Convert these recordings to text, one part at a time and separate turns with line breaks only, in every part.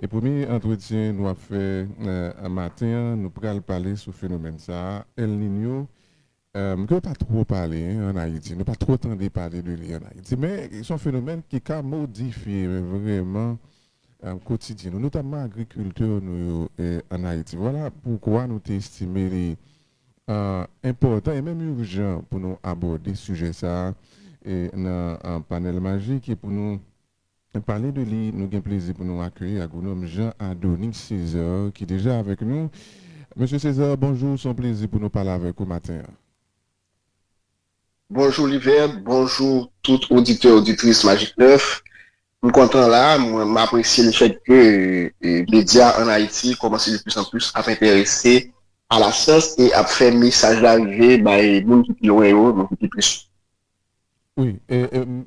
E premye antretyen nou ap fè maten an, nou pral pale sou fenomèn sa a, El Niño, ke yo pa twò pale an Ayiti. Nou pa twò tande pale de li an Ayiti. Men, se yon fenomèn ki ka modifye vrèman kotidyen nou, notamman agrikilti nou yo an Ayiti. Vwala poukwa nou te estime li enpòtan e menm ijan pou nou abòde sijè sa a nan Panèl Majik e pou nou Pale de li, nou gen plezi pou nou akeyi Agwonòm Jean Adonis César ki deja avèk nou. Mesye César, bonjou, se yon plezi pou nou pale avèk ou maten an.
Bonjou Livert, bonjou tout oditè oditris Magik 9. M kontan la, m apresye le fèt ke medya an Ayiti kòmanse de plis an plis ap enterese a lasyans e ap fè mesaj la rive bay moun ki pi lwen yo, moun ki pi plis yo. Wi,
e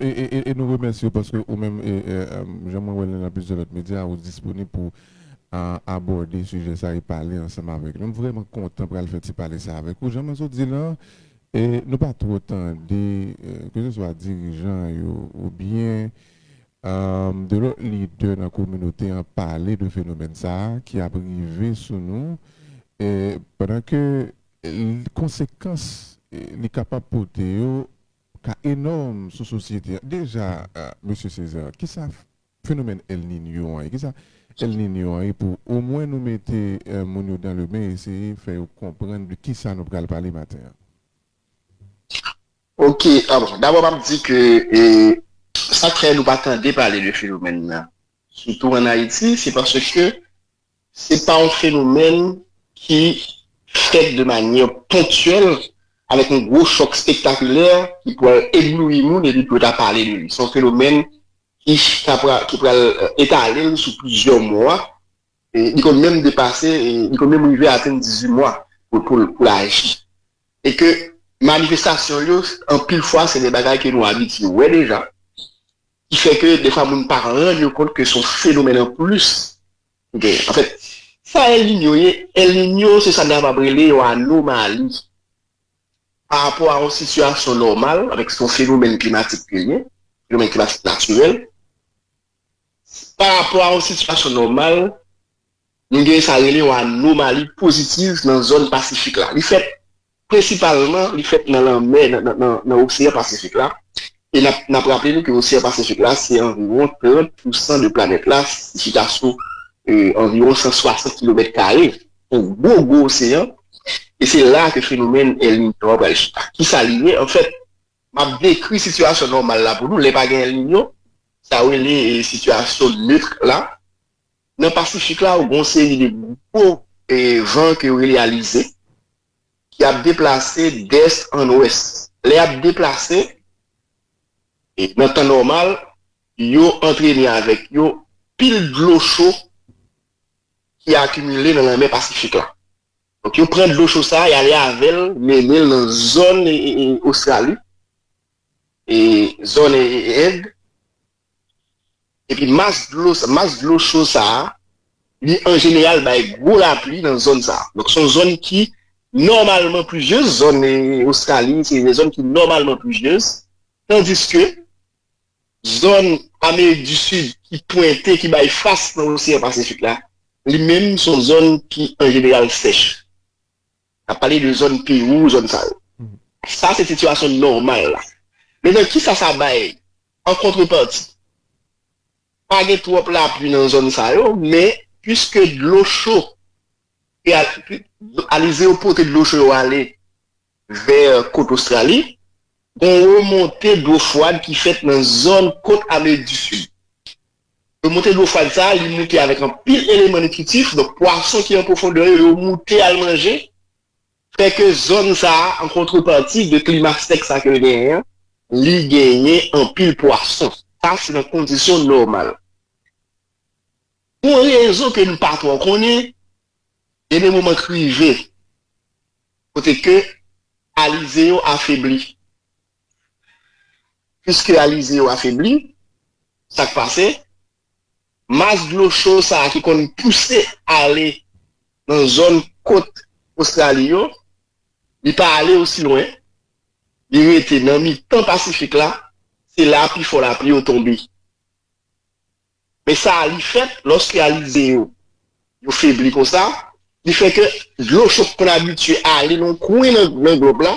e e nou remèsye w paske ou menm e e jan mwen wè l nan plizyè lòt medya ou disponib pou a abòde sijè sa e pale ansanm avèk nou. M vrèman kontan pral fè ti pale sa avèk ou. Jan mwen sot di l an, e nou pa twò tande keseswa dirijan yo oubyen a de lòt lidè nan kominote an pale de fenomèn sa ki ap rive sou nou e pandan ke Konsekans li kapab pote yo ka enòm sou sosyete a. Deja, Mesye Césaire, ki sa fenomèn El Niño an ye? Ki sa El Niño an ye pou omwen nou mete moun yo dan le men eseye fè yo konprann de ki sa nou pral pale maten an?
Ok, bon, dabò m ap di ke sa k fè nou pa tande pale de fenomèn nan sitou an Ayiti se paske Se pa yon fenomèn ki fèt de manyè ponktyèl avèk yon gwo chòk spektakilè ki pwal eblouyi moun epi pou yo ta pale de li. Se yon fenomèn ki ka pral, ki pral etale l sou plizyè mwa. Li konn menm depase, li konn menm rive atenn 18 mwa pou l aji. E ke manifestasyon yo, anpil fwa se de bagay ke nou abitye wè deja, ki fè ke defwa moun pa rann yo kont ke se yon fenomèn anplis Ok an fèt sa El Niño ye, El Niño se sa n kapab rele yon anomali pa rapò a yon sitiyasyon nòmal an fèt se yon fenomèn klimatik ke l ye, fenomèn klimatik natirèl pa rapò a yon sitiyasyon nòmal nou gen sa rele yon anomali pozitiv nan zòn pasifik la li fèt Prensipalman li fèt nan lanmè, nan oseyan pasifik la, e n ap raple nou ke oseyan pasifik la se anviwon 30 pousan de planèt la, li chita sou anviwon 160 kilomèt kare, yon gwo gwo oseyan, e se la ke fenomèn El Niño a pral chita. Kisa li ye? Anfèt, m ap dekri sitiyasyon nòmal la pou nou, lè pa gen El Niño, sa yo rele sitiyasyon neutre la, Nan Pasifik la ou gen yon seri de gwo van ke yo rele alize ki ap deplase dès an ouès. Lè yap deplase nan tan nòmal yo antrene avèk yo pil dlo cho ki akimile nan lanmè Pasifik la. Donk yo pran dlo cho sa, y'ale avèl, menen'l nan zòn Ostrali, zòn End. Epi mas dlo sa, mas dlo cho sa, li an jeneral bay gwo lapli nan zòn sa. Donk se yon zòn ki nòmalman plizyez, zòn Ostrali se yon zòn ki nòmalman plizyez, tandiske zòn Amerik di Sid ki pwente, ki bay fas nan Oseyan Pasifik la, li menm se yon zòn ki an jeneral sèch. N ap pale de zòn Pewou, zòn sa yo. Sa se sitiyasyon nòmal la. Mentan ki sa sa bay an kontrepati? Pa gen twòp lapli nan zòn sa yo, men piske dlo cho, alize yo pote dlo cho yo ale vè kot Ostrali, gen yon remonte dlo fwad ki fèt nan zòn kot Amerik di Sid. Yo monte dlo fwad sa a, li moute avèk anpil eleman nitritif, donk pwason ki an pwofondè yo, yo moute al manje, fè ke zòn sa a, an kontreparti de klima sèk sa ke l genyen an, li genyen anpil pwason. Sa se nan kondisyon nòmal. Pou yon rezon ke nou pa twò konnen, gen de moman k rive kote ke alize yo afebli, Piske alize yo afebli, sa k pase? Mas dlo cho sa a ki konn pouse ale nan zòn kot Ostrali yo, li pa ale osi lwen, li rete nan mitan Pasifik la, se la pifò lapli yo tonbe. Men sa a li fèt, lòske alize yo, yo febli konsa, li fè ke dlo cho ki konn abitye ale nan yon kwen nan glòb la,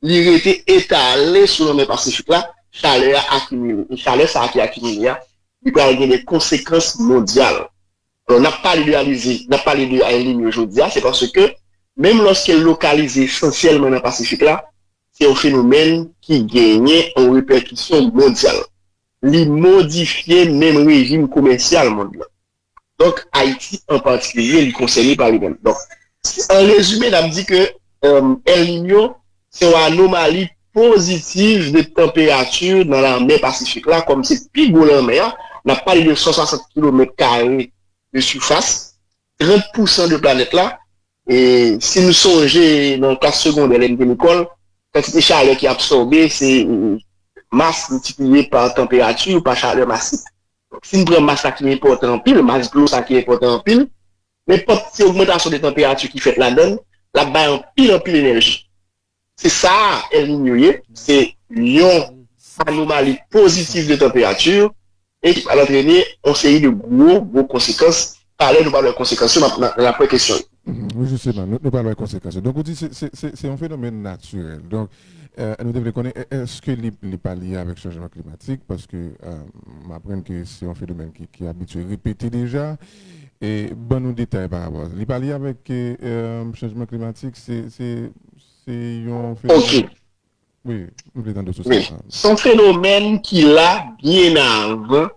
li rete etale sou lanmè Pasifik la, chalè a akimile. E chalè sa a ki akimile a, li pral gen de konsekans mondyal. Alò, n ap pale de alize, n ap pale de El Niño jodi a, se paske menm lòske l lokalize esansyèlman nan Pasifik la, se yon fenomèn ki genyen yon repèkisyon mondyal. Li modifye menm rejim komèsyal mond lan. Donk, Ayiti an patikilye, li konsène pa li menm. Donk, an rezime, n ap di ke El Niño se yon anomali pozitiv de tanperati nan lanmè Pasifik la, kòm se pi gwo lanmè a, n ap pale de 160 kilomèt kare de sifas, 30 pousan de planèt la, e si nou sonje nan klas segondè lè nou te lekòl, kantite chalè ki absòbe se mas miltipliye pa tanperati ou pa chalè masik. Donk si nou pran mas la ki enpòtan anpil, mas dlo sa ki enpòtan anpil, nenpòt ti ogmantasyon de tanperati ki fèt ladan l, l ap bay anpil anpil enèji. Se sa a El Niño ye, se yon anomali pozitif de tanperati e ki pral antrene yon seri de gwo, gwo konsekans. Talè nou pral wè konsekans yo, nan aprè kesyon yo. Wi jisteman,
nou pral wè konsekans yo. Donk ou di se yon fenomèn natirèl. Donk nou te vle konnen èske li pa lye avèk chanjman klimatik paske m aprann ke se yon fenomèn ki abitye repete deja. ban nou detay pa rapò a sa. Li pa li avèk chanjman klimatik, se yon fenomèn.
Wi,
m vle tande sou sa. Wi, se yon fenomèn
ki la byen avan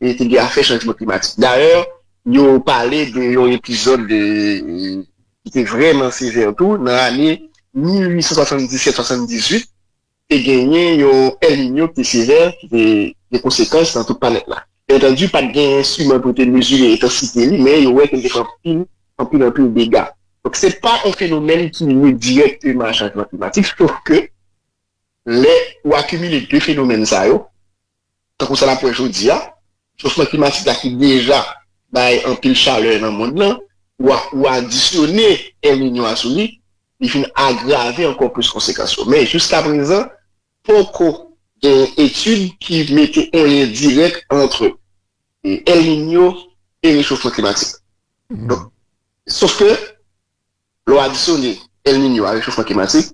e te gen afè chanjman klimatik. Dayè, yo pale de yon epizòd ki te vrèman sevè tou nan ane 1877-78, Te genyen yon El Niño ki te sevè, ki te gen konsekans nan tout planèt la. Byentandi, pa t gen enstriman pou yo te mezire entansite li, men yo wè ke l te fè anpil, anpil, anpil dega. Donk, se pa yon fenomèn ki lye dirèkteman a chanjman klimatik, sof ke lè ou akimile de fenomèn sa yo, Tankou sa n ap wè jodi a, chofman klimatik la ki deja bay anpil chalè nan mond lan, ou adisyone El Niño a sou li, li vin agrave ankò plis konsekans yo. Men, jiska prezan, poko gen etid ki mete yon lyen dirèk antre El Niño e rechofman klimatik. Donk, sof ke, lè w adisyone El Niño a rechofman klimatik,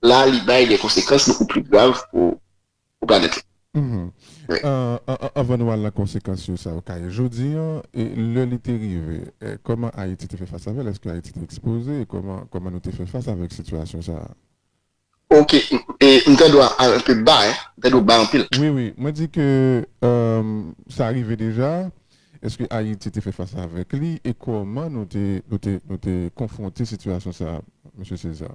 la li bay de konsekans bokou pli grav pou pou
planèt la. Anvan nou al nan konsekans yo sa yo ka ye jodi an, lè li te rive, kòman Ayiti te fè fas avè l? Èske Ayiti te ekspoze? E kòman nou te fè fas avèk sitiyasyon sa a? Ok,
m pèdi w al anpe ba, m pèdi w ba anpil. Wi, wi, mwen di ke
sa rive deja, èske Ayiti te fè fas avèk li e kòman nou te konfwonte sitiyasyon sa a, Mesye César?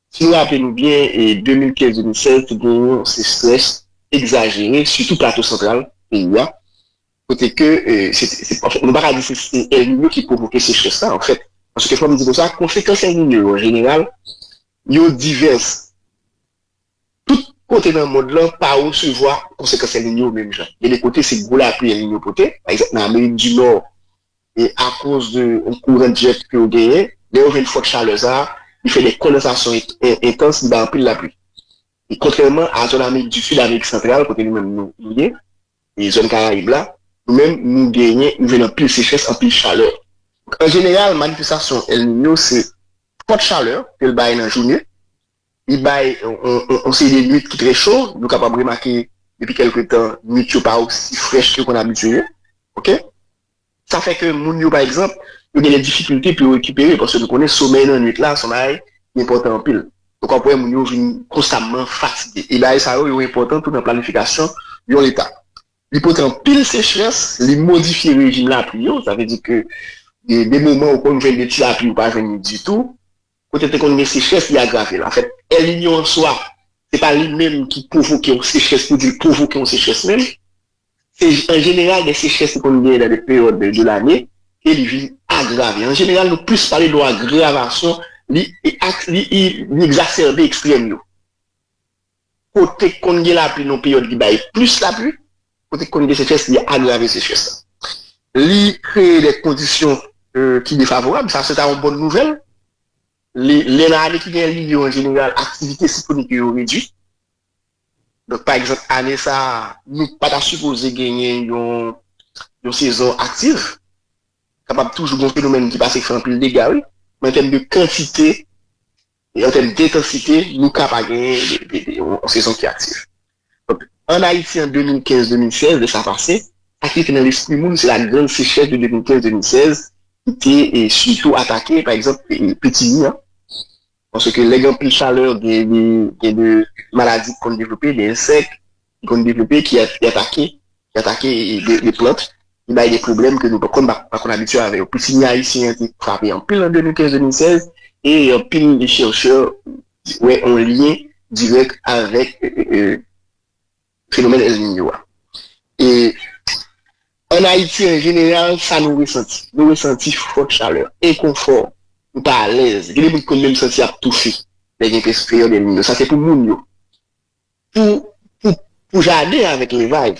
Si nou raple nou byen, 2015-2016 te gen yon sechrès egzajere, sitou Plato Santral peyi a, kote ke se, anfen, nou pa ka di se El Niño ki pwovoke sechrès la, anfèt, paske fò m di konsa, konsekans El Niño yo, an jeneral, yo divès. Tout kote nan mond lan pa resevwa konsekans El Niño yo menm jan. Gen de kote se gwo lapli El Niño pote, pa egzanp, nan Amerik di Nò, e akoz de kouran dirèk ke yo genyen, lè yo jwenn fòs chalè sa a, li fè de kondensasyon entans, li bay anpil lapli. E kontrèman a zòn Amerik di Sid, Amerik Santral, kote nou menm nou ye, e zòn Karayib la, nou menm nou genyen, nou jwenn anpil sechrès, anpil chalè. An jeneral, manifestasyon El Niño se fòt chalè ke l bay nan jounen, li bay yon seri de nwit ki trè cho, nou kapab remake depi kèlke tan nwit yo pa osi frèch ke yo konn abitye ye, ok. Sa fè ke moun yo pa egzanp, yo gen de difikilte pou yo rekipere, paske nou konnen somèy nan nwit la se yon bagay ki enpòtan anpil. Donk wap wè moun yo vin konstamman fatige. E bagay sa yo, yo enpòtan tou nan planifikasyon yon leta. Li pote anpil sechrès, li modifye rejim lapli yo, sa vle di ke gen de moman ou konn jwenn de ti lapli ou pa jwenn li ditou, Kote te konn gen sechrès li agrave l. Anfèt, El Niño an swa, se pa li menm ki pwovoke yon sechrès pou di l pwovoke yon sechrès menm. Se an jeneral de sechrès ki konn genyen nan de peryòd de lane ke li vin agrave. An jeneral nou plis pale de yon agravasyon, li egzasèbe ekstrèm yo. kote k konn gen lapli nou peryòd ki bay plis lapli, kote k konn gen sechrès li agrave sechrès la. Li kreye de kondisyon ki defavorab, sa se ta yon bòn nouvèl. Li, lè nan ane ki gen Elninyo yo an jeneral aktivite siklonik yo yo redui. Donk pa egzanp ane sa a nou pa ta sipoze genyen yon yon sezon aktiv. Kapab toujou gen yon fenomèn ki pase k fè anpil dega wi, men an tèm de kantite An tèm dentansite, nou ka pa gen yon sezon ki aktif. Donk, ann Ayiti an 2015-2016, lè sa pase, sa ki rete nan lespri moun se lagrann sechrès de 2015-2016 ki te sitou atake, pa egzanp, Pitimi an. Paske lè gen anpil chalè, gen de maladi ki konn devlope, de ensèk, ki konn devlope, ki atake, ki atake de plant, ki bay de pwoblèm ke nou pa konn, pa konn abitye avè yo. Pitinye ayisyen an te frape anpil an 2015-2016, e anpil de chèrchè wè yon lyen dirèk avèk fenomèn El Niño a. E an Ayiti an jeneral, sa nou resanti? Nou resanti fòt chalè, enkonfò, nou pa alèz. Gen de moun ki konn menm santi y ap toufe lè gen pèyòd El Niño. Sa se pou moun yo. Pou pou pou jaden avèk levaj,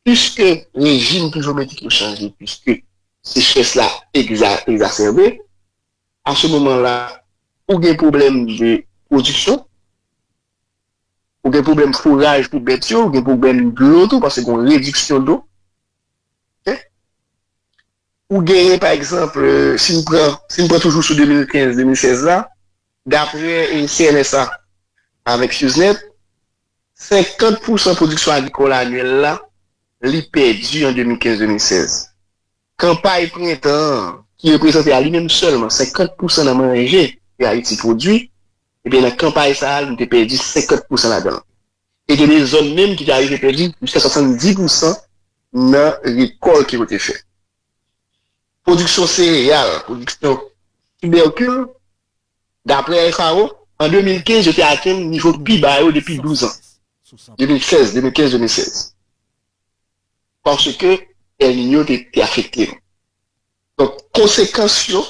piske rejim plivyometrik yo chanje, piske sechrès la egza egzasèbe, a se moman la ou gen pwoblèm de pwodiksyon, ou gen pwoblèm fouraj pou bèt yo, ou gen pwoblèm dlo tou paske gon rediksyon dlo. Ke ou genyen pa egzanp, si n pran si n pran toujou sou 2015, 2016 la, Dapre CNSA avèk SUZNET, 50 pousan pwodiksyon agrikòl anyèl la li pèdi an 2015-2016. Kanpay prentan an, ki reprezante a li menm sèlman 50 pousan nan manje ke Ayiti pwodui, ebyen nan kanpay sa a nou te pèdi 50 pousan ladan l. E gen de zòn menm ki te arive pèdi jiska 70 pousan nan rekòl ke yo te fè. Pwodiksyon sereyal, pwodiksyon tibèkil, daprè FAO, an 2015 yo te atenn nivo pi ba yo depi 12 an, 2016, 2015, 2016, paske El Niño te afekte yo. Donk, konsekans yo,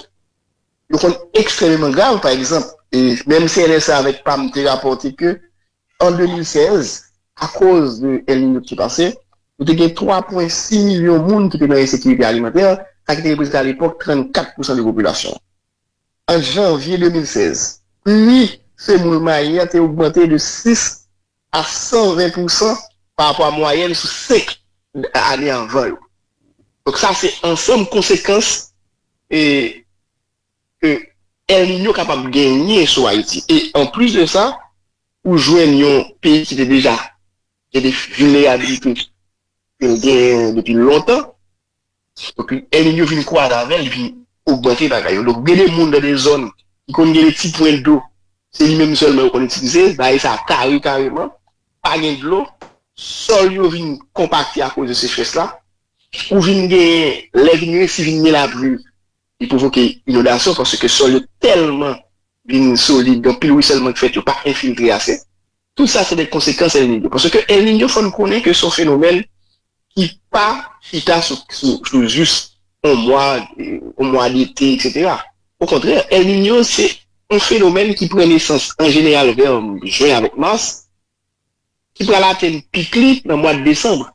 yo konn ekstrememan grav. Pa egzanp, menm CNSA avèk pam te rapòte ke An 2016, akoz de El Niño ki te pase, nou te gen 3,6 milyon moun ki te nan ensekirite alimantè, sa ki te reprezante alepòk 34 pousan de popilasyon an. Ant janvye 2016, pri semoul mayi a te ogmante de 6 a 120 pousan parapò a mwayèn sou 5 ane anvan yo. Donk sa se ansanm konsekans e. ke El Niño kapab genyen sou Ayiti. E anplis de sa, ou jwenn yon peyi ki te deja gen de vilnerabilite ke l genyen depi lontan, epi El Niño vin kwaze avè l, li vin ogmante bagay yo. Donk, gen de moun nan de zòn ki konn gen de ti pwen dlo, se li menm sèlman yo konn itilize, bagay sa a kare kareman, pa gen dlo, sòl yo vin konpakte akoz de sechrès la, ou vin genyen, lè vin resi vin gen lapli, li pwovoke inondasyon paske sòl yo tèlman vin solid, gen anpil ruisèlman ki fèt yo pa enfiltre ase. Tout sa se de konsekans El Niño paske El Niño fò n konnen ke se yon fenomèn ki pa chita sou jis yon mwa, yon mwa dete eksetera. Okontrè, El Niño se yon fenomèn ki pran nesans an jeneral vè jwen avèk mas, ki pral atenn pik li nan mwad desanm,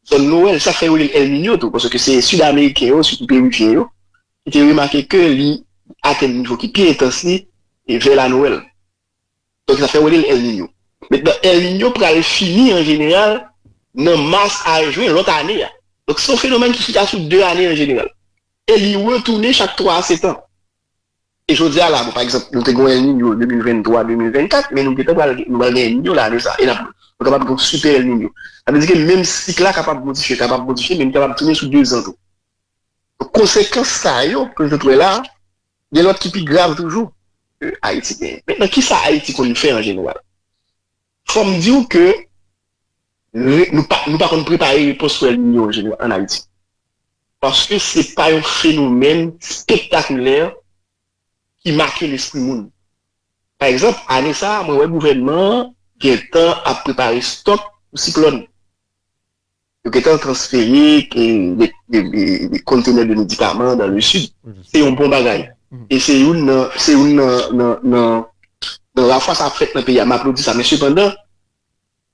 zòn Nowèl, sa k fè yo rele l El Niño tou, paske se Sid-Ameriken yo, sitou Perivyen yo, ki te remake ke li atenn nivo ki pi entans li vè la Nowèl. Donk sa fè yo rele l El Niño. Mentnan, El Niño pral fini an jeneral nan mas a jwen lòt ane a. Donk se yon fenomèn ki chita sou 2 ane an jeneral e li retounen chak 3 a 7 an. E jodi a la, bon, pa egzanp, nou te gen yon El Niño 2023, 2024, men nou gentan pral, nou pral gen El Niño la ane sa, e nap, nou kapab gen yon Super El Niño. Sa vle di ke menm sik la kapab modifye, kapab modifye, men li kapab tounen sou 2 zan tou. Donk konsekans sa yo ke nou sot wè la a, gen lòt ki pi grav toujou ke Ayiti genyen. Mentnan kisa Ayiti konn fè an jeneral? Fò m di w ke nou pa nou pa konn prepare repons pou El Niño an Ayiti. Paske se pa yon fenomèn spektakilè ki make lespri moun. Pa egzanp, ane sa a mwen wè gouvènman an gentan ap prepare stòk pou siklòn. Yo gentan transfere kontenè de medikaman dan le sid. Se yon bon bagay. E se youn nan, se youn nan, nan, nan lafwa sa ap fèt nan peyi a. M aplodi sa. Men sepandan,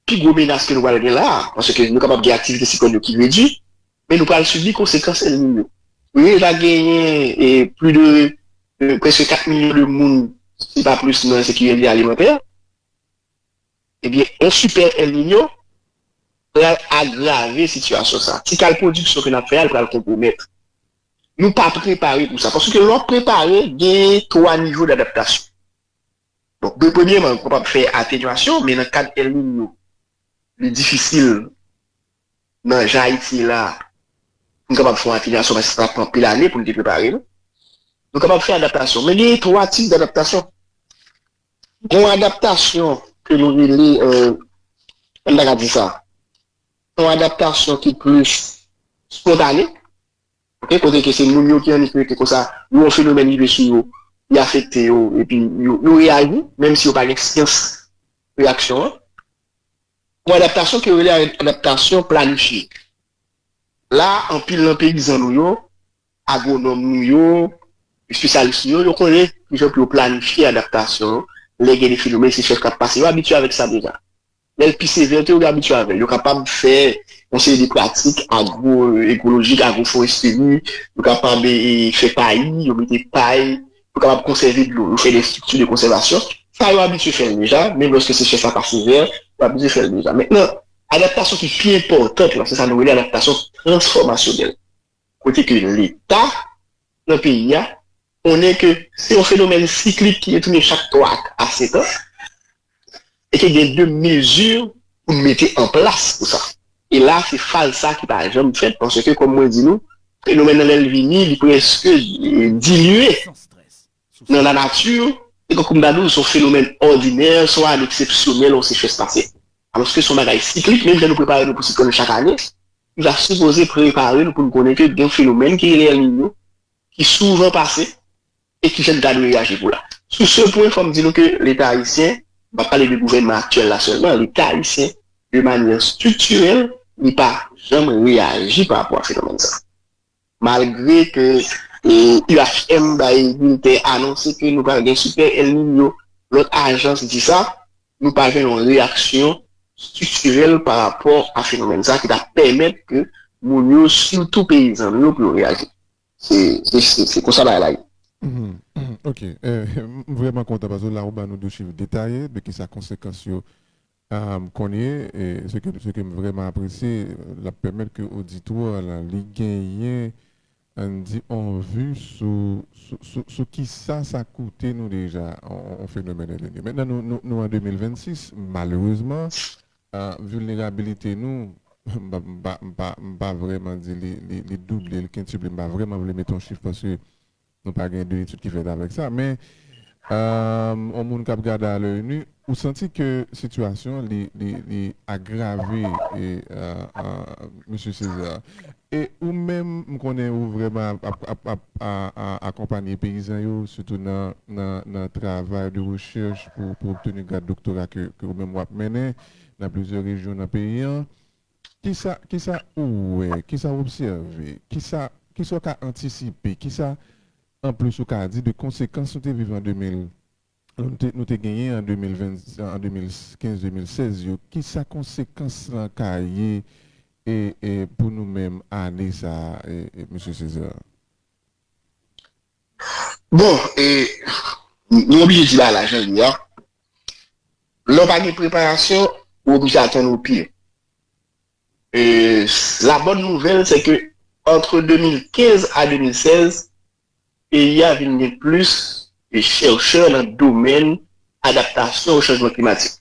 pi gwo menas ke nou pral gen la a, paske nou kapab gen aktivite siklòn yo ki redui, men nou pral sibi konsekans El Niño. Nou deja genyen e pli de, prèske 4 milyon de moun, si pa plis, nan ensekirite alimantè. Ebyen yon sipè El Niño pral agrave sitiyasyon sa. Ti kal pwodiksyon ke n ap fè a l pral konpwomèt. Nou pa prepare pou sa. Paske lè w ap prepare genyen 3 nivo dadaptasyon. Donk de premyeman ou kapab fè atenyasyon men nan kad El Niño li difisil nan jan Ayiti ye la pou n kapab fè yon atenyasyon paske sa pran anpil ane pou n te prepare nou. Nou kapab fè adaptasyon men genyen 3 tip dadaptasyon. Gen yon adaptasyon ke nou rele, m ta ka di sa, yon adaptasyon ki plis spontane, ok, kote ke se moun yo ki annik rete konsa, yo wè yon fenomèn rive sou yo, li afekte yo, epi yo reyaji, menm si yo pa gen syans reyaksyon an. Yon adaptasyon ke yo rele adaptasyon planifye. La a, anpil nan peyizan nou yo, Agwonòm nou yo, espesyalis nou yo, yo konnen ki jan pou yo planifye adaptasyon an lè gen defi noumen, se chèf k ap pase. Yo abitye avèk sa deja. Lè l pi sevè tou, yo gen abitye avè l. Yo kapab fè yon seri de pratik agwoekolojik, agwoforesteri, yo kapab fè payi, yo mete pay, yo kapab konsève dlo, yo fè de estrikti de konsèvasyon. Sa yo abitye fè l deja, menm lòske sechès la pa sevè, yo abitye fè l deja. Mentnan, adaptasyon ki pi enpòtan, se sa nou rele adaptasyon transfòmasyonèl. kote ke leta nan peyi a konnen ke se yon fenomèn siklik ki retounen chak 3 a 5 an e ke gen de mezi pou n mete an plas pou sa. E la se faz sa ki pa janm fèt paske kòm mwen di nou fenomèn nan lè l vini li prèske dilye. Nan lanati, Eko Kumbadou se yon fenomèn òdinè, swa eksepsyonèl yon sechrès pase. Alòske se yon bagay siklik, menm jan nou prepare nou pou siklòn chak ane, nou ta sipoze prepare nou pou nou konnen ke gen yon fenomèn ki rele El Niño ki souvan pase e kijan nou ta dwe reyaji pou la. Sou se pwen, fò m di nou ke Leta ayisyen, m pa pale de gouvènman aktyèl la sèlman, Leta ayisyen de manyè estriktirèl li pa janm reyaji parapò a fenomèn sa. Malgre ke UHM bay bilten anonse ke nou pral gen Super El Niño, lòt ajans di sa, nou pa jwenn yon reyaksyon striktirèl pa rapò a fenomèn sa ki ta pèmèt ke moun yo, sitou peyizan nou yo pou yo reyaji. Se konsa bagay la ye.
Ok. M vrèman kontan paske la ou ba nou de chif detaye de kisa konsekans yo Kounye, se ke m vrèman apresye, l ap pèmèt ke oditwa la, li genyen, ann di, on vi sou ki sa sa koute nou deja, on fenomèn elène. Mentnan nou an 2026, malerezman, vilnerabilite nou, m pa vrèman di li double, li kentuple, m pa vrèman vle mete on chif paske Nou pa gen de etid ki fèt avèk sa men yon moun kap gade a l'oeil nu ou santi ke sitiyasyon li agrave Mesye Césaire. E ou menm m konnen ou vrèman ap akonpanye peyizan yo sitou nan travay de rechèch pou obteni grad doktora ke ou menm wap mennen nan plizyè rejyon nan peyi an. Kisa, kisa ou wè, kisa w obsève, kisa, kisa w ka antisipe, kisa anplis ou ka di de konsekans nou te viv an 2000, nou te, nou te genyen an 2020, an 2015, 2016 yo, kisa konsekans lan ka ye e, e pou nou menm ane sa a e, e Mesye Césaire?
Bon e nou oblije di bagay la jan li a, lè w pa gen preparasyon ou oblije atann ou pye. E la bòn nouvèl se ke antre 2015 a 2016 peyi a vin gen plis chèrchè nan domèn adaptasyon o chanjman klimatik.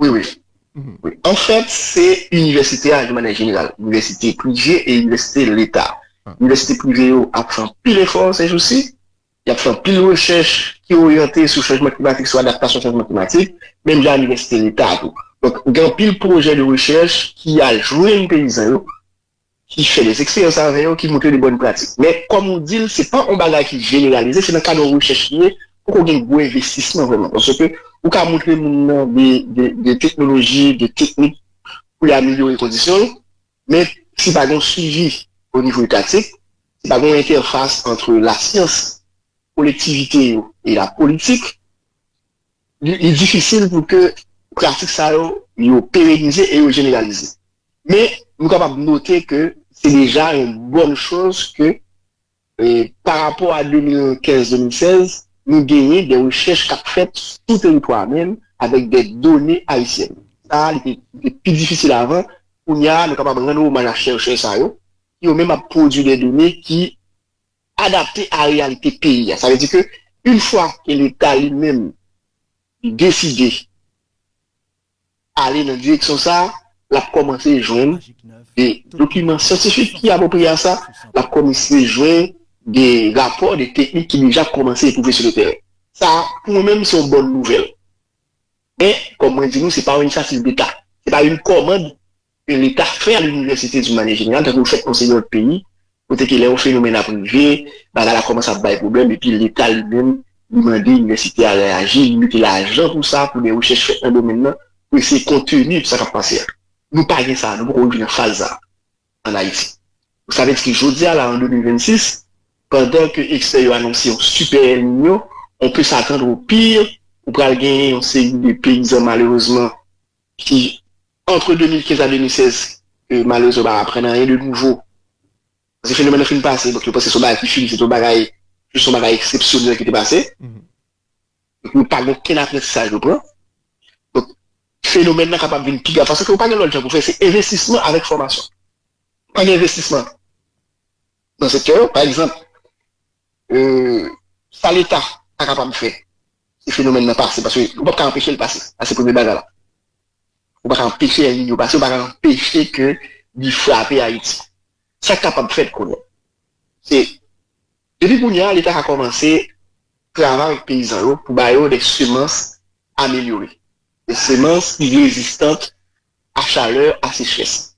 Wi wi, anfèt se inivèsite a yon manè jeneral, inivèsite prive e inivèsite leta. Inivèsite prive yo ap fè anpil efò sèjousi, y ap fè anpil rechèch ki oryante sou chanjman klimatik, sou adaptasyon chanjman klimatik, menm jan inivèsite leta a tou. Donk gen anpil pwojè de rechèch ki al jwenn peyizan yo ki fè des eksperyans avè yo, ki montre de bòn pratik. Men, kòm ou di l, se pa yon bagay ki jeneralize, se nan kad yon rechèch li ye, poko gen gwo envestisman vrèman. Paske ou ka montre moun nan de teknoloji, de teknik pou li amelyore kondisyon l, men si pa gen yon swivi o nivo etatik, si pa gen yon entèfas antre lasyans, kolektivite yo e lapolitik, Li difisil pou ke pratik sa yo, yo perenize e yo jeneralize. Men, nou kapab note ke se deja yon bòn choz ke parapò a 2015-2016, nou genyen de rechèch k ap fèt sou teritwa a menm avèk de done ayisyèn. Sa a, li te pi difisil avan. Kounya a, nou kapab rann omaj a chèrchè sa yo, ki yo menm ap pwodui de done ki Adapte a reyalite peyi a. Sa vle di ke yn fwa ke leta li menm li deside ale nan direksyon sa, l ap kòmanse jwenn de dokiman syantifik ki apwopriye a sa, l ap kòmanse jwenn de rapò, de teknik ki deja kòmanse epwouve sou le tèren. Sa a, pou mwen menm, se yon bòn nouvèl. Men, kòm mwen di nou, se pa yon inisyativ leta. Se pa yon kòmand ke leta fè a linivèsite di manye jeneral tankou yo fèt nan seri lòt peyi kote ke lè yon fenomèn ap rive bagay la kòmanse ap bay pwoblèm epi leta li menm li mande inivèsite a reyaji li mete lajan pou sa pou de rechèch fèt nan domèn nan pou eseye konteni sa kap pase a nou pa gen sa nou poko rive nan faz sa an Ayiti sa vle di ke jodi a la an 2026 pandan ke ekspè yo anonse yon sipè El Niño on pe satann o pire ou pral genyen yon seri de peyizan malerezman ki antre 2015 a 2016 ke malerezman yo pa aprann anyen de nouvo. Pase fenomèn nan fin pase, donk yo panse se yon bagay ki fini, se te yon bagay, jis yon bagay eksepsyonèl ki te pase. Donk yo pa gen okenn aprantisaj yo pran. Donk fenomèn nan kapab vin pi grav paske yo pa gen lòt jan pou fè, se envestisman avèk fòmasyon. Pa gen envestisman nan sektè yo, pa egzanp, Sa leta pa kapab fè si fenomèn nan pase paske ou pap ka anpeche l pase. Sa se premye bagay la. Ou pa ka anpeche El Niño pase, ou pa ka anpeche ke li frape Ayiti. Sa k kapab fèt kounye a, se depi kounye a leta ka kòmanse travay avèk peyizan yo pou ba yo de semans amelyore, de semans ki rezistant a chalè, a sechrès.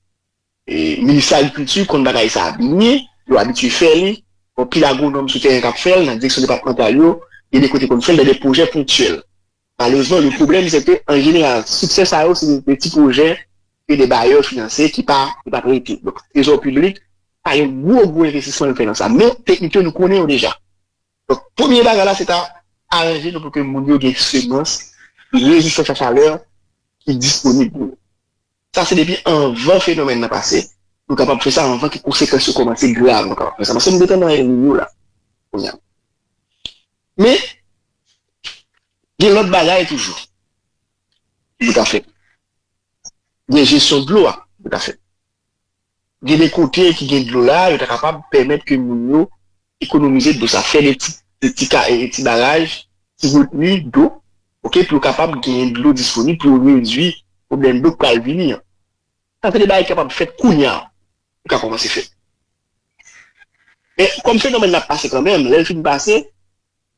Minis agrikilti konn bagay sa a byen, yo abitye fè li, gen anpil agwonòm sou tèren k ap fè l, nan direksyon depatmantal yo, gen de kote konn fè l nan de pwojè ponktyèl. Malerezman, le pwoblèm se ke an jeneral, siksè sa yo se de ti pwojè ke de bayè finanse ki pa prete. Donk, trezò piblik pa gen gwo gwo envestisman l fè nan sa. Men, teknik yo nou konnen yo deja. Donk premye bagay la se ta aranje nou pou ke moun yo gen semans rezistan a chalè ki disponib pou yo. Sa se depi anvan fenomèn nan pase, nou kapab fè sa anvan ke konsekans yo kòmanse grav nou kapab fè sa. Paske nou detan nan El Niño la kounye a. Men, gen lòt bagay toujou ki pou ta fèt. Gen jesyon dlo a ki pou ta fèt. Gen de kote ki gen dlo la, yo ta kapab pèmèt ke moun yo ekonomize dlo sa, fè de ti de ti ka e ti baraj, ti retni dlo, ok, pou yo kapab genyen dlo disponib pou yo redwi pwoblèm dlo k pral vini an. Sa se de bagay ki kapab fèt kounya, yo ka kòmanse fèt. Men, kòm fenomèn nan ap pase kanmenm, lè l fin pase,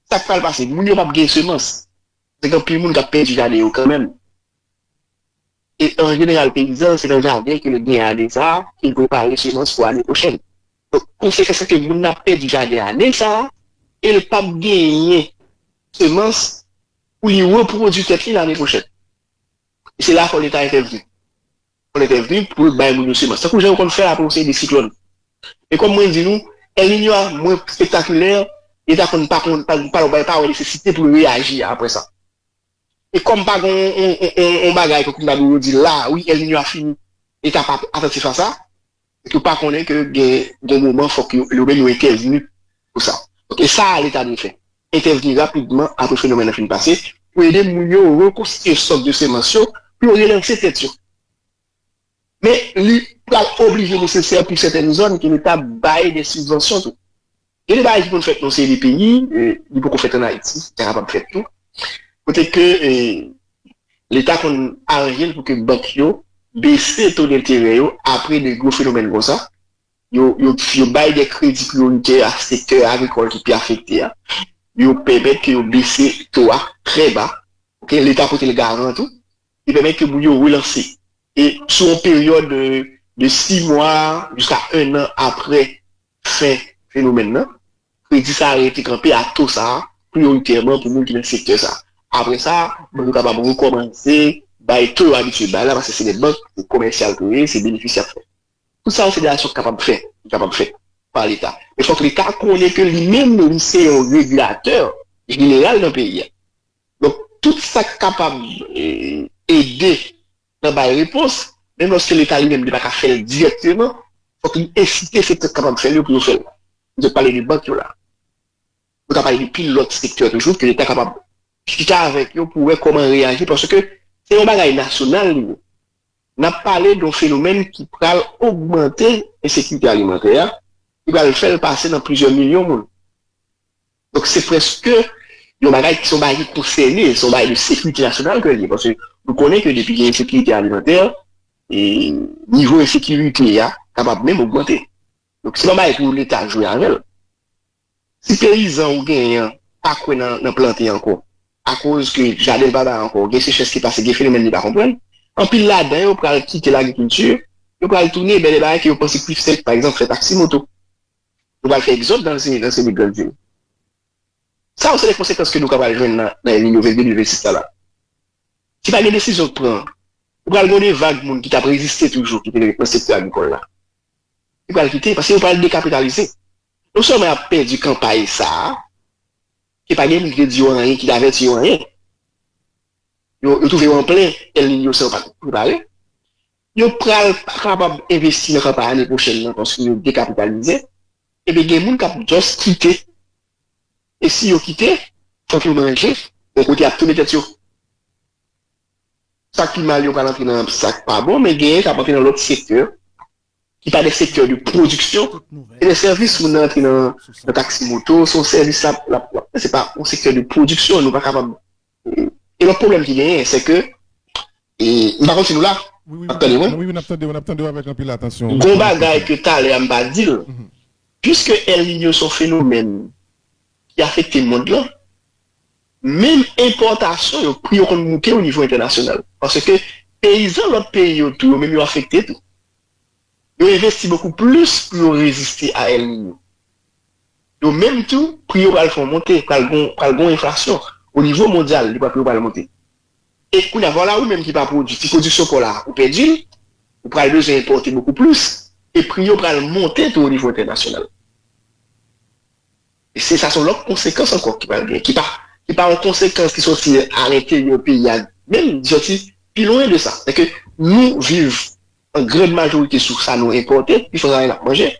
sa k pral pase? Moun yo p ap gen semans. Gen anpil moun kap pèdi jaden yo kanmenm. E an jeneral peyizan se nan jaden ke li gen ane sa a ke li prepare semans pou ane pwochèn. Donk konsekans se ke moun nan ap pèdi jaden ane sa a e li pap genyen semans pou li repwodui tèt li lane pwochèn. E se la fò leta entèvni. Yon entèvni pou l bay moun yo semans. Tankou jan yo konn fè apre yon seri de siklòn. E kòm mwen di nou, El Niño a mwen spektakilè, yo ta konn pa konn, pa yo bay pa wè nesesite pou yo reyaji apre sa. E kòm pa gen yon bagay ke kounye la yo di la, wi El Niño a fini, yo ta pa atantif a sa, e ke yo pa konnen ke gen yon moman fòk yo yo menm yo entèvni pou sa. Donk e sa a leta dwe fè, entèvni rapidman apre fenomèn nan fin pase pou ede moun yo rekonstitye stòk de semans yo pou yo relanse tèt yo. Men li pral oblije nesesè pou sètèn zòn ke leta bay dè sibvansyon tou. Gen de bagay ki konn fèt nan yon seri de peyi, li poko fèt an Ayiti, sa kapab fèt tou, kote ke leta konn aranje l pou ke bank yo bese to denterè yo apre de gwo fenomèn konsa, yo bay de kredi priyoritè a sektè agrikòl ki pi afekte a, yo pèmèt ke yo bese to a trè ba, oke, leta pote l garan tou, li pèmèt ke moun yo relanse, e sou yon peryòd de 6 mwa jiska 1 an apre Fen fenomèn nan, kredi sa a rete kanpe a to sa a priyoritèman pou moun ki nan sektè sa a. Apre sa, bank yo kapab rekòmanse bay to yo abitye bay la paske se lè bank se komèsyal pou yo ye, se benefis y ap fè. Tout sa yo se de aksyon ki kapab fèt, ki kapab fèt pa Leta. Men fòk Leta konnen ke li menm li se yon regilatè jeneral nan peyi a. Donk, tout sa k kapab ede nan bay repons, menm lòske leta li menm li pa ka fè l dirèkteman, fòk li ensite sektè k kapab fè l yo pou yo fè l. Nou te pale de bank yo la. Nou ka pale de pil lòt sektè toujou ke leta kapab chita avèk yo pou wè kòman reyaji paske se yon bagay nasyonal li ye. N ap pale de yon fenomèn ki pral ogmante ensekirite alimantè a, ki pral fè l pase nan plizyè milyon moun. Donk se prèske yon bagay ki se yon bagay ki konsène, se yon bagay de sekirite nasyonal ke l ye paske nou konnen ke depi gen ensekirite alimantè, nivo ensekirite a kapab menm ogmante. Donk se pa yon bagay pou Leta jwe avè l. Si peyizan ou genyen an pa kwè nan plante ankò akoz ke jaden l pa bay ankò, gen sechrès ki pase, gen fenomèn li pa konprann, anpil ladan yo pral kite lagrikilti, yo pral tounen bè de bagay ke yo panse pi senp, pa egzanp fè taksi moto. Nou pral fè egzòd nan se nan se li grann vil. Sa yo se de konsekans ke nou ka pral jwenn nan nan eli nouvèl 2026 la la. Si pa gen desizyon k pran, ou pral gen yon de vag moun ki tap reziste toujou ki te ret nan sektè agrikòl la. Ki pral kite paske yo pral dekapitalize. Non sèlman y ap pèdi kanpay sa a ke pa gen moun ki te di yo anyen, ki te avèti yo anyen. Yo yo twouve yo an plen El Niño san yo pat prepare. Yo pral pa kapab envesti nan kanpay ane pwochèn nan paske yo dekapitalize epi gen moun k ap just kite e si yo kite fòk yo manje yon kote y ap tounen tèt yo. Sa k pi mal yo pral antre nan sa k pa bon men genyen k ap antre nan lòt sektè ki pa de sektè de pwodiksyon se de sèvis moun nan antre nan taksi moto se yon sèvis l ap se pa yon sektè de pwodiksyon nou pa kapab E lòt pwoblèm ki genyen se ke, m pa konn si nou la? Wi wi wi wi wi
nap tande w nap tande w avèk anpil atansyon. Gon bagay ke
talè a m pa di l, piske El Niño son fenomèn ki afekte mond lan, menm enpòtasyon yo pri yo konn moute o nivo entènasyonal. Paske peyizan lòt peyi yo tou yo menm yo afekte tou. Yo envesti bokou plis pou yo reziste a El Niño. Yo menm tou, pri yo pral fon monte, pral gen yon enflasyon. O nivo mondyal, li pral, pri yo pral monte. E kounye a, vwala ou menm ki pa pwodui, ti pwodiksyon paw la, ou pèdi l, ou pral bezwen enpòte bokou plis, e pri yo pral monte tou o nivo entènasyonal. E se sa son lòt konsekans ankò ki pral gen, ki pa, ki pa yon konsekans ki sòti a lenteryè peyi a, menm li sòti pi lwen de sa. Sèke nou viv an grand majorite sou sa nou enpòte, pi fò sa se sa n ap manje.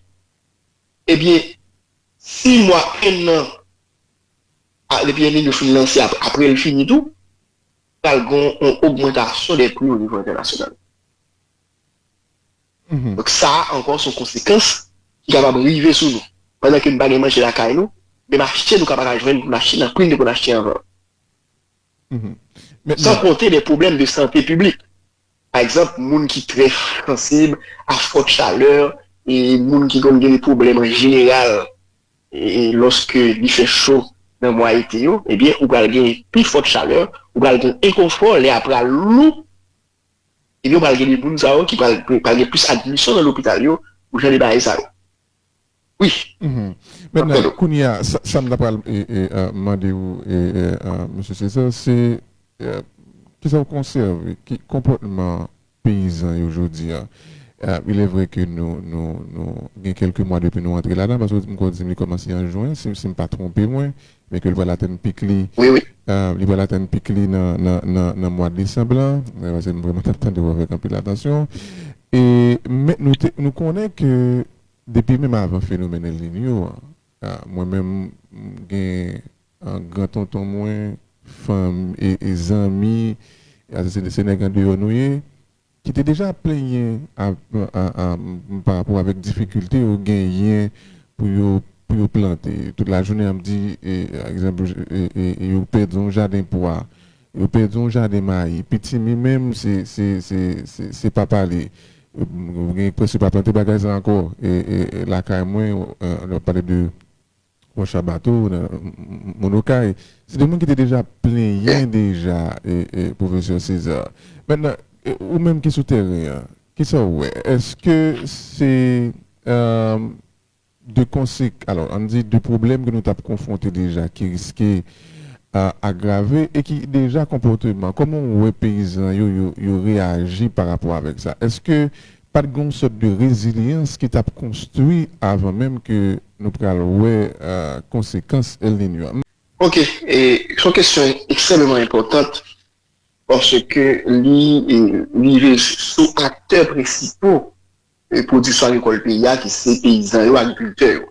Ebyen si mwa 1 nan a depi El Niño fin lanse apre l fini tou pral gen yon ogmantasyon dè pri o nivo entènasyonal. Donk sa a ankò son konsekans ki kapab rive sou nou. Pandan ke nou pa gen manje lakay nou, menm achte nou ka pa ka jwenn pou n achte nan pri n te konn achte anvan an. San konte dè pwoblèm de sante piblik. Pa egzanp, moun ki trè sansib a fòt chalè e moun ki konn gen de pwoblèm an jeneral lòske li fè cho nan mwa ete yo, ebyen ou pral gen pi fòt chalè, ou pral gen enkonfò, lè a pral lou, ebyen ou pral gen de moun sa yo ki pral gen plis admisyon nan lopital yo pou jan de bagay sa yo. Wi, map
tande w. Kounye a, sa m ta pral mande ou, Mesye Cesar, se kisa ou konsève ki konpòtman peyizan yo jodi a? Il est vrai que nou gen kèlke mwa depi nou antre ladan, paske m kwè ou di m li kòmanse an jwen, si m pa twonpe mwen, Men ke li pral atenn pik li, li pral atenn pik li nan mwa desanb la, paske m vreman t ap tande w avèk anpil atansyon. Men nou konnen ke depi menm avan fenomèn El Niño an, mwen menm m gen gran tonton mwen, fanmi e zanmi, se nèg andeyò nou ye, ki te deja ap plenyen pa rapò avèk difikilte yo genyen pou yo pou yo plante tout lajounen ap di egzanp yo pèdi yon jaden pwa yo pèdi yon jaden mayi pitimi menm se se se se pa pale gen prèske pa plante bagay sa ankò lakay mwen lè wap pale de Bon Shabato nan moun okay. Se de moun ki te deja plenyen deja Professor Cesar. Mentnan ou menm ki sou tèren an, kisa ou wè? Eske se de konsek alò ann di de pwoblèm ke nou tap konfwonte deja ki riske agrave e ki deja konpòteman, kòman ou wè peyizan yo yo reyaji pa rapò avèk sa? Eske Pat gen yon sòt de rezilyans ki tap konstwi avan menm ke nou pral wè konsekans El Niño a. Ok,
son kesyon ekstrèmeman enpòtant paske li rive sou aktè presipo pwodiksyon agrikòl peyi a ki se peyizan yo, agrikiltè yo.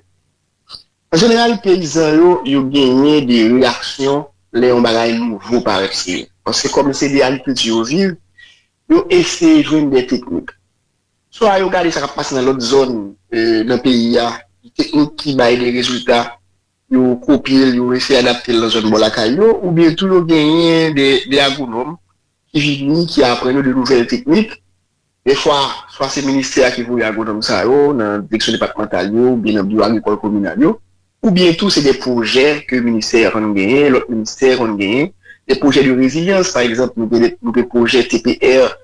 An jeneral peyizan yo, yo genyen de reyaksyon lè yon bagay nouvo parèt sou yo paske kòm se de agrikilti yo viv, Yo eseye jwenn de teknik. Swa yo gade sa k ap pase nan lòt zòn nan peyi a, ki teknik ki bay de rezilta, yo kopye l, yo eseye adapte l nan zòn bò lakay yo, oubyen tou yo genyen de agwonòm ki vini, ki aprann yo de nouvèl teknik. Dèfwa, swa se ministè a ki voye agwonòm sa yo nan direksyon depatmantal yo oubyen nan biwo agrikòl kominal yo. Oubyen tou se de pwojè ke ministè a konn genyen, lòt ministè konn genyen, de pwojè de rezilyans, pa egzanp nou gen nou gen pwojè TPR,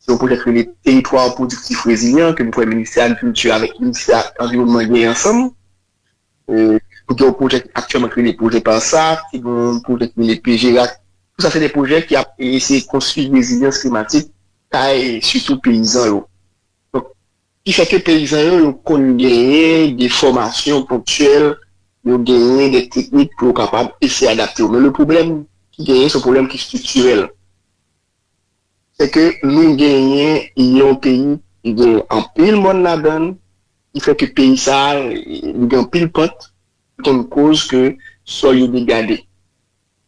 se yon pwojè ki rele Teritwa Pwodiktif Rezilyan ke m kwè ministè agrikilti avèk ministè anviwònman genyen ansanm. Nou gen yon pwojè ki aktyèlman ki rele pwojè PARSA, ki gen yon pwojè ki rele PGRAC, tou sa se de pwojè ki ap eseye konstwi rezilyans klimatik kay sitou peyizan yo. Donk, Ki fè ke peyizan yo yo konn genyen de fòmasyon ponktyèl, yo genyen de teknik pou yo kapab eseye adapte yo. Men le pwoblèm ki genyen se yon pwoblèm ki striktirèl. Se ke nou genyen yon peyi ki genyen anpil mòn ladan l, ki fè ke peyi sa a li gen anpil pant, ki konn koz ke sòl yo degade.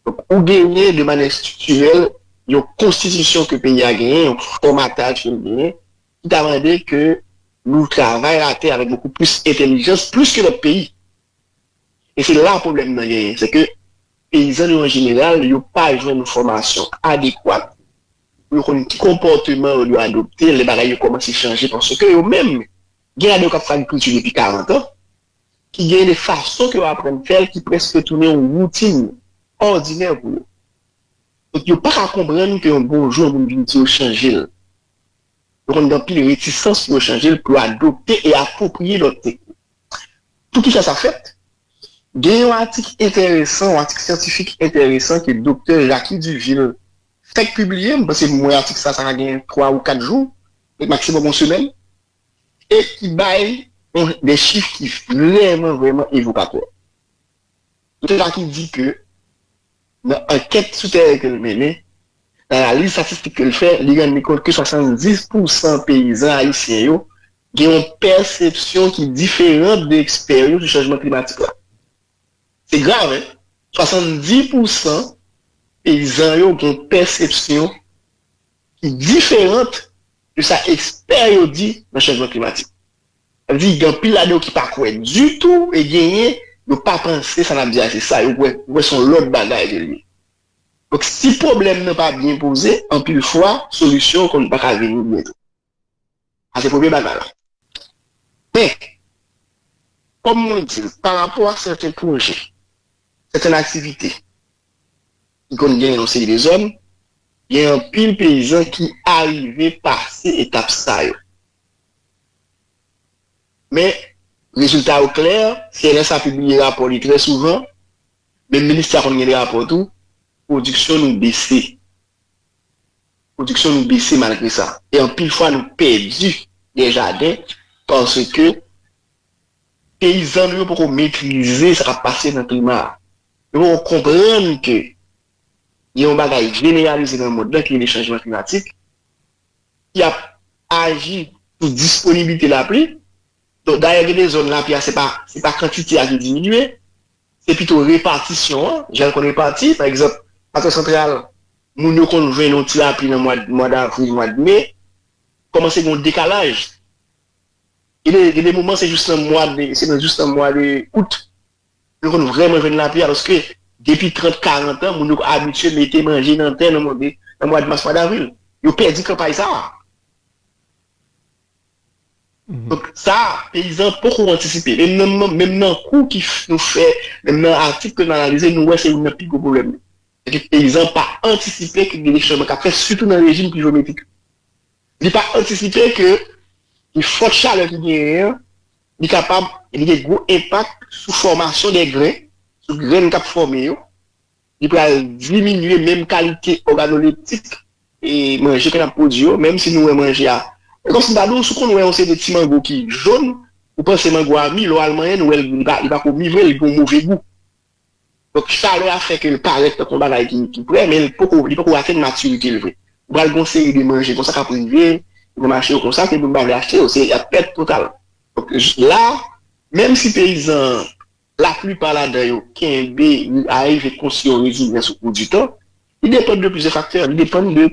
Donk ou genyen de manè striktirèl yon konstitisyon ke peyi a genyen, yon fòmataj ke l genyen, ki ta mande ke nou travay latè avèk bokou plis entelijans, plis ke lòt peyi. E se la pwoblèm nan genyen, se ke peyizan nou an jeneral yo pa jwenn fòmasyon adekwat pou yo konn ki konpòteman yo dwe adopte lè bagay yo kòmanse chanje paske yo menm gen ladan yo k ap fè agrikilti depi karantan ki gen de fason ke yo aprann fè l ki prèske tounen yon woutin òdinè pou yo. Donk yo pa ka konprann ke yon bon jou yon moun vin di yo chanje l. yo konn gen anpil retisans pou yo chanje l, pou yo adopte e apwopriye lòt teknik. Pou ki sa sa fèt? Gen yon atik enteresan, yon atik syantifik enteresan ke Doktè Jacky Duville fèk pibliye, m panse m wè atik sa, sa ka gen 3 ou 4 jou, lè maksimòm yon semèn, e ki bay yon de chif ki vrèman, vrèman evokatè. Kote sa ki di ke nan ankèt sou tèren ke l mennen, nan analiz statistik ke l fè, li rann li kont ke 70 pou san peyizan ayisyen yo gen yon pèsepsyon ki diferan de ekspè yo sou chanjman klimatik la. Se grav hein! 70 pou san peyizan yo gen yon pèsepsyon ki diferant de sa ekspè yo di nan chanjman klimatik. Sa vle di gen anpil ladan yo ki pa kwè ditou e genyen yo pa panse sa n ap di a se sa, yo kwè yo kwè se yon lòt bagay ke l ye. Donk si pwoblèm nan pa byen poze, anpil fwa solisyon konn pa ka vini byen tou. Sa se premye bagay la. Men, kòm mwen di l, pa rapò a sèten pwojè, sèten aktivite ki konn genyen yon seri de zòn, gen anpil peyizan ki arive pase etap sa yo. Men, rezilta yo klè, CNSA pibliye rapò li trè souvan, menm Minustah konn gen rapò tou, pwodiksyon nou bese. Pwodiksyon nou bese malgre sa e anpil fwa nou pèdi dè jaden paske peyizan nou yo poko metrize sa kap pase nan klima a. Yo poko konprann ke gen yon bagay jeneralize nan mond lan ki rele chanjman klimatik ki ap aji sou disponiblite lapli. Dayè gen de zòn lapli a se pa kantite a ki diminye Se pito repatisyon an, jan l konn repati. Pa egzanp, Atò Santral, moun yo konn jwenn yon ti lapli nan mwa davril, mwa de me. Kòmanse gen yon dekalaj. Gen de moman se jous nan mwa de, se nan jous nan mwa de out yo konn vrèman jwenn lapli a paske depi trant, karant an moun yo abitye mete manje nan tè nan mwa de mas, mwa davril. Yo pèdi kanpay sa a. Donk sa a, peyizan poko antisipe. Menm nan kou ki nou fè, menm nan atik ke nou analize, nou wè se youn nan pi gwo pwoblèm yo. Se ke peyizan pa antisipe ke gen chanjman kap fèt, sitou nan rejim plivometrik yo. Li pa antisipe ke gen fòt chalè ki genyen an, li kapab, li gen gwo enpak sou fòmasyon de gren, sou grenn kap fòme yo. Li pral diminye menm kalite òganoleptik manje ke n ap pwodui yo, menm si nou wè manje a. E kòmsi m ta di w, si w konn wè yon seri de ti mango ki jon, ou panse mango a mi, lè w al manyen l, ou wè l li pa ko mi vre, li gen yon move gou. Donk chalè a fè ke l parèt tankou yon bagay ki prè, men li poko li poko atenn matirite l vre. Ou pral gen yon seri de manje konsa k ap rive nan mache yo konsa ke moun pa vle achte yo, se y ap pèt total. Donk la, menm si peyizan an Laplipa ladan yo kenbe ou arive konstwi yon rezilyans okou di tan, li depann de plizyè faktè, li depann de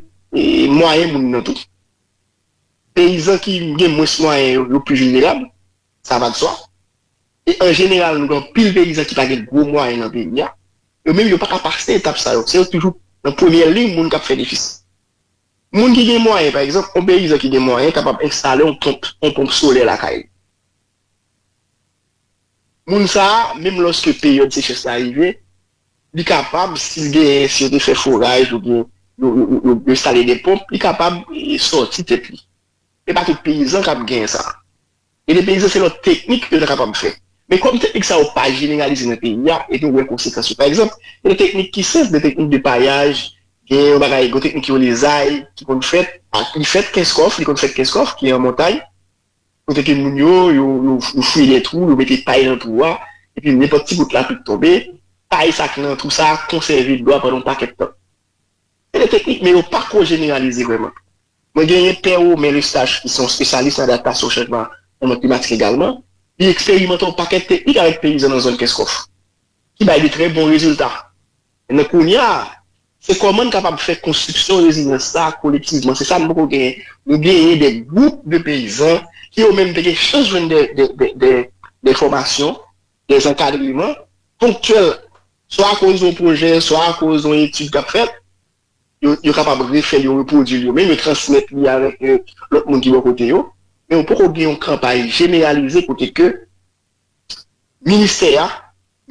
mwayen moun nan tou. Peyizan ki gen mwens mwayen yo, yo pli vilnerab, sa va de swa. E an jeneral nou gen anpil peyizan ki pa gen gwo mwayen nan peyi a, yo menm yo pa ka pase etap sa yo, se yo toujou nan premyè liy moun k ap fè defisi. Moun ki gen mwayen, pa egzanp, yon peyizan ki gen mwayen kapab enstale yon ponp, yon ponp solè lakay li. Moun sa a, menm lòske peryòd sechès la rive, li kapab, si l genyen, si yo te fè foraj oubyen yo enstale de ponp, li kapab sòti tèt li. Se pa tout peyizan k ap genyen sa. Gen de peyizan se lòt teknik yo ta kapab fè. Men kòm teknik sa yo pa jeneralize nan peyi a e nou wè konsekans yo. Pa egzanp, gen de teknik ki senp, de teknik de payaj, gen yon bagay, gen yon teknik ki rele zay ki konn fèt ak li fèt kenskòf, li konn fèt kenskòf ki an montay. Kote ke moun yo, yo fouye de twou, yo mete pay nan twou a, epi nenpòt ti gout lapli k tonbe, pay sa k nan twou sa a konsève dlo a pandan yon pakèt tan. Se de teknik, men yo pa ko jeneralize vrèman. Mwen genyen Pè Romain Lesage ki se yon spesyalis nan adaptasyon chanjman nan mond klimatik egalman, li eksperimante yon pakèt teknik avèk peyizan nan zòn Kenskòf. ki bay de trè bon rezilta. Enben kounya a, se kòman n kapab fè konstriksyon rezilyans sa a kolektivman. Se sa n poko genyen. Nou genyen de gwoup de peyizan ki yo menm te gen chans jwenn de fòmasyon, de zankadreman ponktyèl, swa akoz yon pwojè, swa akoz yon etid k ap fèt, yo kapab refè l, yo repwodui l yo menm, yo transmèt li avèk lòt moun ki bò kote yo. Men yo poko gen yon kanpay jeneralize kote ke ministè a,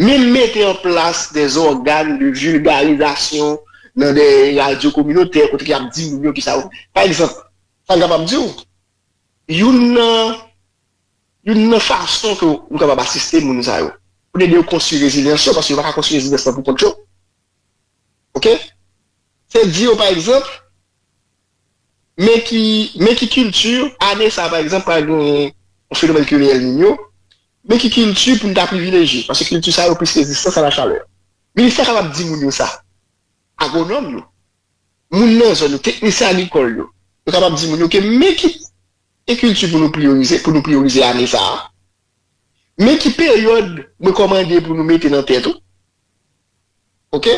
menm mete an plas de zògàn de vilgarizasyon nan de radyo kominotè kote ke y ap di moun yo kisa yo vle. Pa egzanp, sa m kapab di w, youn nan, youn nan fason ke ou kapab asiste moun sa yo, pou n ede yo konstwi rezilyans yo, paske yo pa ka konstwi rezilyans lan pou kont yo, ok, se di yo pa egzanp, Men ki men ki kilti ane sa pa egzanp pral gen yon fenomèn ki rele El Niño, men ki kilti pou n ta privileje paske kilti sa yo plis rezistans a la chalè. Minis la kapab di moun yo sa, agwonòm yo, moun nan zòn yo, teknisyen agrikòl yo, yo kapab di moun yo ke men ki kilti pou nou priyorize pou nou priyorize ane sa a. Men ki peryòd mwen kòmande pou nou mete nan tèt ou, ok,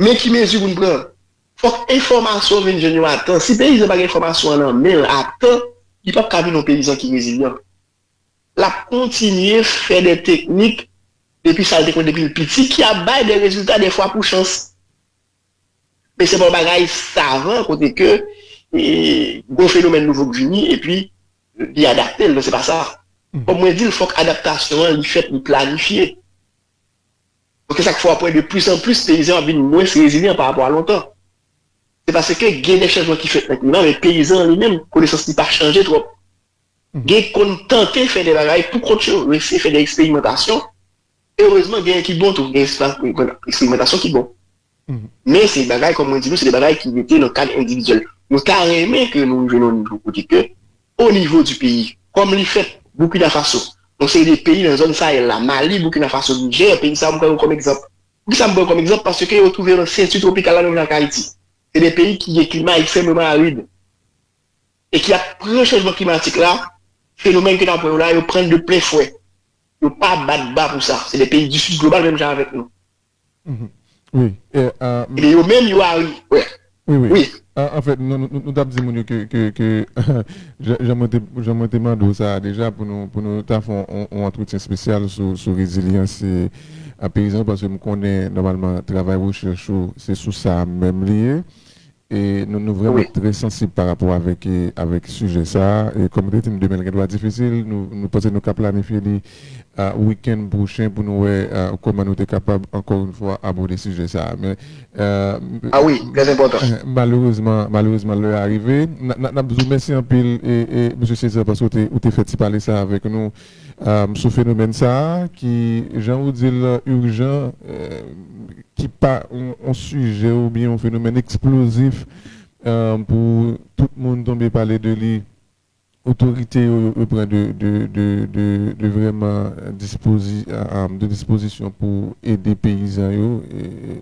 men ki mezi pou n pran. Fòk enfòmasyon an vin jwenn yo a tan. Si peyizan pa gen enfòmasyon an nan men l a tan, li p ap ka vin yon peyizan ki rezilyan. L ap kontinye fè de teknik depi sa l te konn depi l piti ki ap bay de rezilta dèfwa pou chans. Men se pa yon bagay savan kote ke gon fenomèn nouvo k vini epi li adapte l non se pa sa. Kòm mwen di l fòk adaptasyon an li fèt li planifye. Donk e sa k fè w ap wè de plis an plis peyizan ap vin mwens rezilyan pa rapò a lontan. Se paske gen de chanjman ki fèt nan klima men peyizan an li menm konesans li pa chanje twòp. Gen k konn tante fè de bagay pou kont yo yo eseye fè de eksperimantasyon Erezman genyen ki bon tou, gen espas pou eksperimantasyon ki bon. Men se bagay kòm mwen di nou se de bagay ki rete nan kad endividyèl. Nou ta renmen ke nou rive nan yon nivo kote ke o nivo di peyi, kòm li fèt Burkina Faso, yon seri de peyi nan zòn Sahel la, Mali, Burkina Faso, Niger, peyi sa yo m pran yo kòm egzanp. Poukisa m pran yo kòm egzanp? Paske yo twouve yo nan senti twopikal la menm jan ak Ayiti. Se de peyi ki gen klima ekstrèmeman arid e ki ap pran chanjman klimatik la, fenomèn ke n ap wè yo la, yo pran l de plen fwè. Yo pa bat ba pou
sa. Se de peyi
du sud global menm jan avek nou. Ebyen yo menm yo
ari. Wi. En fait nou tap di moun yo ke jan mwen te mande w sa a deja pou nou ta fè yon antretyen spesyal sou rezilyans peyizan paske m konnen nòmalman travay rechèch ou se sou sa menm li ye. Nou vrèman trè sansib pa rapò avèk sijè sa. Kòm nou te di, demen gen dwa difisil. Nou panse nou ka planifye li wikenn pwochen pou nou wè kòman nou te kapab ankò yon fwa abòde sijè sa. Men,
malerezman, malerezman
lè a rive. N ap di w mèsi anpil, Mesye Césaire, paske ou te fè ti pale sa avèk nou. Sou fenomèn sa a ki jan ou di l urjan, ki pa yon sijè oubyen yon fenomèn eksplozif pou tout moun tonbe pale de li, otorite yo yo pran de vrèman de dispozisyon pou ede peyizan yo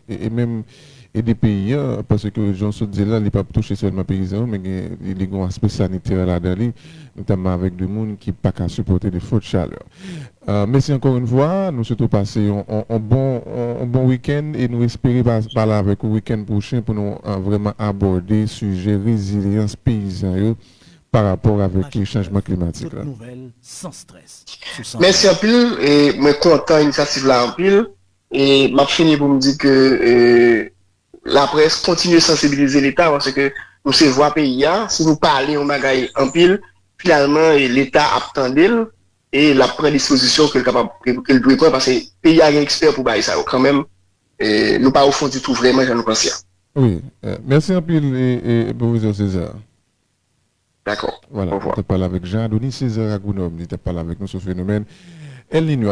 e menm ede peyi an paske jan sot dil la li pap touche sèlman peyizan yo men gen li gon aspè sanitè ladan li notamman avèk de moun ki paka sipòte de fòt chalè mèsi ankò yn fwa nou swete w pase yon bon yon bon wikenn e nou espere pale avèk ou wikenn pwochen pou nou vrèman abòde sijè rezilyans peyizan yo pa rapò avèk chanjman klimatik la.
Mèsi anpil
e mwen kontan inisyativ la anpil E map fini pou m di ke laprès kontinye sansibilize leta paske nou se vwa peyi a, si nou pale yon bagay anpil finalman leta ap tande l e lap pran dispozisyon ke l kapab ke l dwe pran paske peyi a gen ekspè pou bagay sa yo kanmenm nou pa ofon ditou vrèman jan nou panse a. Wi,
mèsi anpil Pwofesè César. Dakò, ovwa. Wala, nou tap pale avèk Jean Adonis César a
Gronòb,
li tap pale avèk nou sou fenomèn El Niño a.